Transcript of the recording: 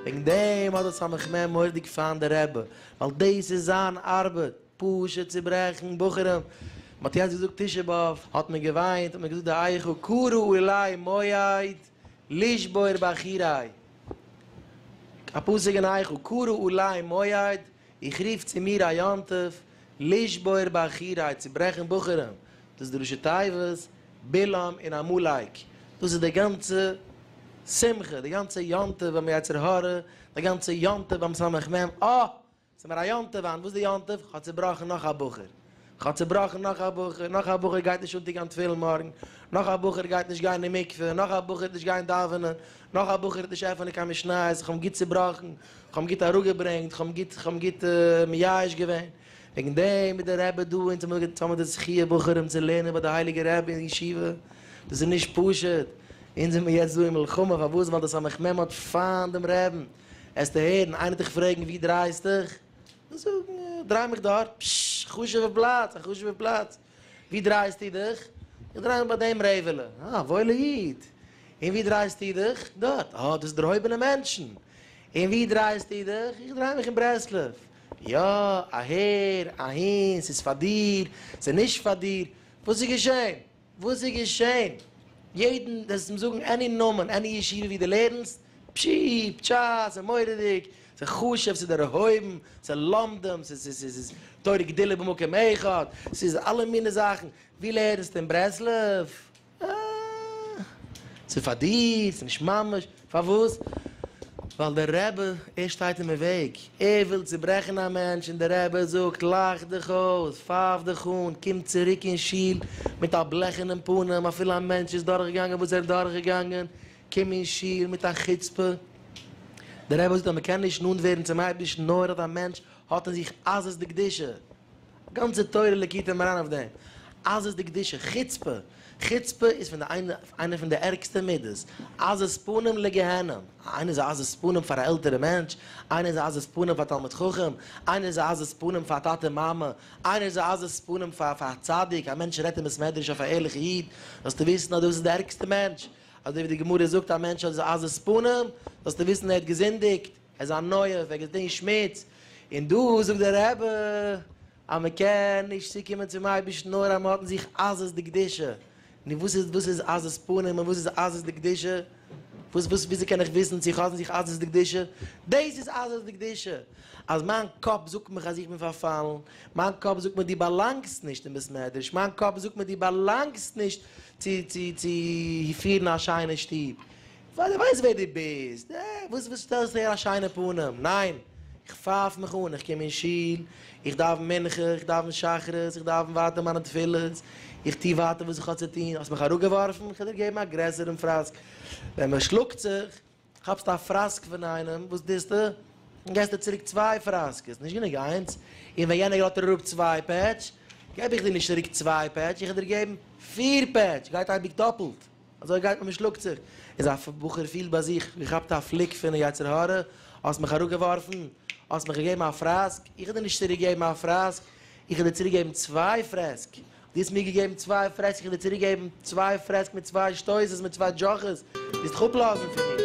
וועגן דעם האט דער סמך מ מורדיג פיינט די רבי, ווייל דאס איז זיין ארבעט, פשוט צו ברעכן בחורים. מען האט יעצט געזאגט תשעה באב, האט מען געוויינט, האט מען געזאגט די היכל קרא אולי מועד לשבור בחורי. א פסוק אין היכל קרא אולי מועד איך רוף צו מיר א יום טוב לשבור בחורי, צו ברעכן בחורים, דאס איז די ראשי תיבות בלעם און עמלק, דאס איז די גאנצע שמחה, די גאנצע יום טוב ביים יצר הרע, די גאנצע יום טוב ביים סמך מם, אה! ס'מיר א יום טוב היינט, וואס איז די יום טוב? כ'האב צובראכן נאך א בחור. כ'האב צובראכן, נאך א בחור, נאך א בחור גייט נישט אנטוהן תפילין מארגן, נאך א בחור גייט נישט גיין אין מקווה, נאך א בחור וועט נישט גיין דאווענען, נאך א בחור וועט נישט עפענען קיין משניות, כ'האב אים גוט צובראכן, כ'האב אים גוט אראפגעברענגט, כ'האב אים גוט, כ'האב אים גוט מייאש געווען, וועגן דעם איז דער רבי דא, אונז האמיר געטאן מיט די זכיה בחורים צו לערנען ביי די הייליגע רבי אין ישיבה, דאס איז נישט פשוט, אונז זעמיר יעצט דא אין מלחמה, פארוואס? ווייל די סמך מם האט פיינט דעם רעבן, העסטו הערן, איינער וועט דיך פרעגן ווי דרייסטוך? און זאגן, איך דריי מיך דארט, פששש, א חשוב'ע פלאץ, א חשוב'ע פלאץ. ווי דרייסטו דיך? איך דריי מיך ביי דעם רעוועלע. אה, א וואוילע איד. און ווי דרייסטו דיך? דארט. אה, דאס איז דערהויבענע מענטשן. און ווי דרייסטו דיך? איך דריי מיך אין ברסלב. יא, אהער, אהין, ס'איז פאר דיר, ס'איז נישט פאר דיר. וואס איז געשען? וואס איז געשען? יעדן וועסט אים זאגן עני נאמען, עני ישיבה ווי דו לערנסט, פשי, פשש, ס'איז מורא'דיג, ס'איז חשוב, ס'איז דערהויבן, ס'איז למדן, ס'איז תורה גדולה במקום אחד, ס'איז אלע מיני זאכן, ווי לערנסטו אין ברסלב? אה, ס'איז פאר דיר, ס'איז נישט ממש. פארוואס? ווייל דער רבי ער שטייט אין וועג, ער וויל צוברעכן א מענטש און דער רבי זאגט לאך דיך אויס, פייף דיך אן, קום צוריק אין שול מיט א בלעכענעם פנים, אפילו א מענטש איז דורכגעגאנגען וואס ער איז דורכגעגאנגען, קום אין שול מיט א חוצפה. דער רבי זאגט אז מען קען נישט נאנט ווערן צום אייבערשטן נאר אז א מענטש האט אין זיך עזות דקדושה. גאנצע תורה ליקוטי מרן אויף דעם, אז עס די קדושה, חוצפה, חוצפה איז פון די איינע איינע פון די ערגסטע מידות, עזות פנים לגיהנום, איינער איז א עזות פנים פאר א עלטערע מענטש, איינער איז א עזות פנים פאר תלמיד חכם, איינער איז א עזות פנים פאר טאטע מאמע, איינער איז א עזות פנים פאר פאר א צדיק, א מענטש רעדט אין בית מדרש אויף א ערליכע איד, זאלסטו וויסן אז דאס איז די ערגסטע מענטש, אזוי ווי די גמרא זאגט א מענטש איז א עזות פנים, זאלסטו וויסן ער האט געזינדיגט. עס איז א נויע וועג עס דינט שמוץ, און דא זאגט דער רבי אז מען קען נישט צוקומען צום אייבערשטן נאר אז מען האט אין זיך עזות דקדושה, נו וואס איז וואס איז עזות פנים און וואס איז עזות דקדושה? וואס וואס וויאזוי קען איך וויסן צו איך האב אין זיך עזות דקדושה? דאס איז עזות דקדושה, אז מיין קאפ זאגט מיך אז איך בין פארפאלן, מיין קאפ זאגט מיר דו באלאנגסט נישט אין בית מדרש, מיין קאפ זאגט מיר דו באלאנגסט נישט צו צו צו פירן א שיינע שטוב, ווייל איך ווייס ווער דו ביסט, אה, וואס וואס שטעלסטו אהער א שיינע פנים, ניין, איך פייף מיך אן, איך קום אין שול, איך דאוון מנחה, איך דאוון שחרית, איך דאוון ווייטער מיינע תפילות, איך טו ווייטער וואס איך האב צו טון, האסט מיך אראפגעווארפן, איך וועל דיר געבן א גרעסערן פראסק, ווען מען שלאגט זיך, כאפסטו א פראסק פון איינעם, וואס טוסטו? און געסט דיר צוריק צוויי פראסקעס, נישט גענוג איינס, און ווען יענער גראדט דיר אראפ צוויי פעטש, געב איך דיר נישט צוריק צוויי פעטש, איך וועל דיר געבן פיר פעטש, גייט אייביג דאפלט. אזוי גייט מען מ'שלאגט זיך, איז א בחור פילט ביי זיך ווי כאפט א פליק פון די יצר הרע, האסט מיך אראפגעווארפן, האסט מיך געגעבן א פראסק, איך האב דיר נישט צוריק געגעבן א פראסק, איך האב דיר צוריק געגעבן צוויי פרעסק, דו האסט מיר געגעבן צוויי פרעסק, איך האב דיר צוריק געגעבן צוויי פרעסק מיט צוויי שטויסעס מיט צוויי דזשאכעס, וועסט דיך אפלאזן פון מיר.